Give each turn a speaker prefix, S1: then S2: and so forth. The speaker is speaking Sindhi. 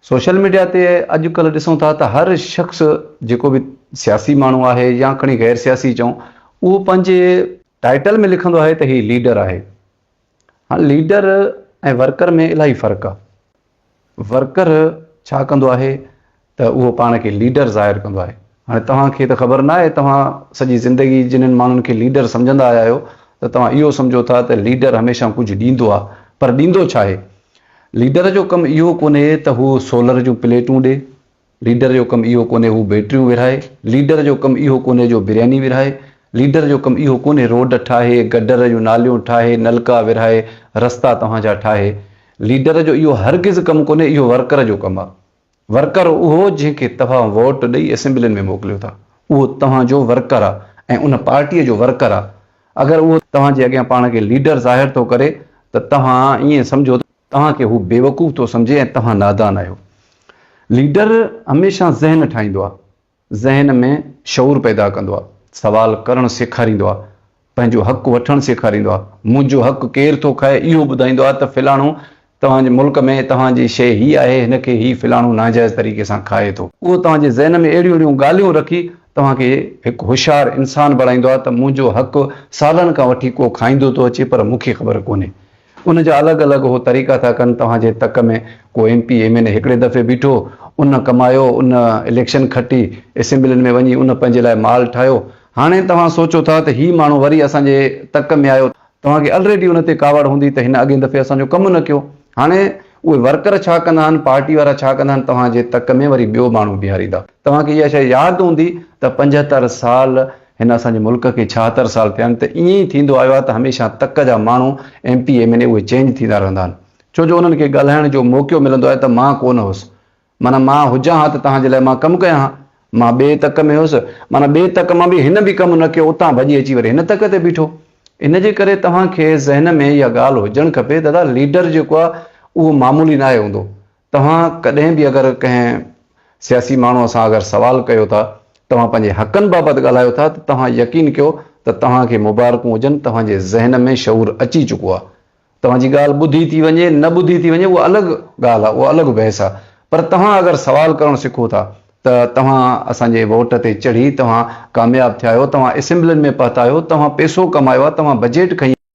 S1: سوشل ميڊيا تي اڄ ڪلهه ڏسون ٿا ته هر شخص جيڪو به سياسي ماڻهو آهي يا کڻي غير سياسي چئون اهو پنهنجي ٽائيٽل ۾ لکندو آهي ته هي ليڊر آهي هاڻ ليڊر ۽ ورڪر ۾ الاهي فرق آهي ورڪر ڇا ڪندو آهي ته اهو پاڻ کي ليڊر ظاهر ڪندو آهي. هاڻي توهان کي ته خبر ناهي، توهان سڄي زندگي جنھن ماڻهن کي ليڊر سمجهندا آيا آهيو ته توهان اهو سمجهو ٿا ته ليڊر هميشه ڪجهه ڏيندو آهي پر ڏيندو ڇا آهي؟ ليڊر جو ڪم اهو ڪونهي ته هو سولر جون پليٽون ڏي، ليڊر جو ڪم اهو ڪونهي هو بيٽريون ورهائي، ليڊر جو ڪم اهو ڪونهي جو برياني ورهائي، ليڊر جو ڪم اهو ڪونهي روڊ ٺاهي، گڊر جون ناليون ٺاهي، نلڪا ورهائي، رستا توهان جا ٺاهي. ليڊر جو اهو هرگز ڪم ڪونهي، اهو ورڪر جو ڪم آهي. ورڪر اهو جنهن کي توهان ووٽ ڏئي اسيمبلين ۾ موڪليو ٿا اهو توهان جو ورڪر آ ۽ ان پارٽيء جو ورڪر آ اگر اهو توهان جي اڳيان پاڻ کي ليڊر ظاهر ٿو ڪري ته توهان ائين سمجهو ته توهان کي هو بيوقوف ٿو سمجهي ۽ توهان نادان آهيو ليڊر هميشه ذهن ٺاهيندو آ ذهن ۾ شعور پيدا ڪندو آهي، سوال ڪرڻ سيکاريندو آهي، پنهنجو حق وٺڻ سيکاريندو آهي، منهنجو حق ڪير ٿو کائي اهو ٻڌائيندو آهي ته فلاڻو توهان جي ملڪ ۾ توهان جي شيء هي آهي هن کي هي فلاڻو ناجائز طريقي سان کائي ٿو. اهو توهان جي ذهن ۾ اهڙيون اهڙيون ڳالهيون رکي توهان کي هڪ هوشيار انسان بڻائيندو آهي ته منهنجو حق سالن کان وٺي ڪو کائيندو ٿو اچي پر مون کي خبر ڪونهي ان جا الڳ الڳ هو طريقا ٿا ڪن توهان جي تڪ ۾ ڪو M P M N A هڪڙي دفعي بيٺو ان ڪمايو ان اليڪشن کٽي اسيمبلين ۾ وڃي ان پنهنجي لاء مال ٺاهيو هاڻي توهان سوچو ٿا ته هي ماڻهو وري اسان جي تڪ ۾ آيو توهان کي الريڊي ان تي ڪاوڙ هوندي ته هن اڳين دفعي اسان جو ڪم نه ڪيو هاڻي اهي ورڪر ڇا ڪندا آهن پارٽي وارا ڇا ڪندا آهن توهان جي تڪ ۾ وري ٻيو ماڻهو بيهاريندا توهان کي اها شيء ياد هوندي ته پنجهتر سال هن اسان جي ملڪ کي ڇاهتر سال ٿيا آهن ته ائين ئي ٿيندو آيو آهي ته هميشه تڪ جا ماڻهو M P M N A اهي چينج ٿيندا رهندا آهن ڇو جو انهن کي ڳالهائڻ جو موقعو ملندو آهي ته مان ڪونه هوس معنيٰ مان هجان ها ته توهان جي لاء مان ڪم ڪيان ها مان ٻئي تڪ ۾ هوس معنيٰ ٻئي تڪ مان به هن به ڪم نه ڪيو اتان ڀڄي اچي وري هن تڪ تي بيٺو ان جي ڪري توهان کي ذهن ۾ اها ڳالهه هجڻ کپي دادا ليڊر جيڪو آهي اهو معمولي ناهي هوندو توهان ڪڏهن به اگر ڪنهن سياسي ماڻهوء سان اگر سوال ڪيو ٿا، توهان پنهنجي حقن بابت ڳالهايو ٿا ته توهان يقين ڪيو ته توهان کي مبارڪون هجن توهان جي ذهن ۾ شعور اچي چڪو آهي. توهان جي ڳالهه ٻڌي ٿي وڃي نه ٻڌي ٿي وڃي اها الڳ ڳالهه آهي اها الڳ بحث آهي پر توهان اگر سوال ڪرڻ سکو ٿا ته توهان اسان جي ووٽ تي چڙهي توهان ڪامياب ٿيا آهيو توهان اسيمبلين ۾ پهتا آهيو توهان پيسو ڪمايو آهي توهان بجيٽ کنئي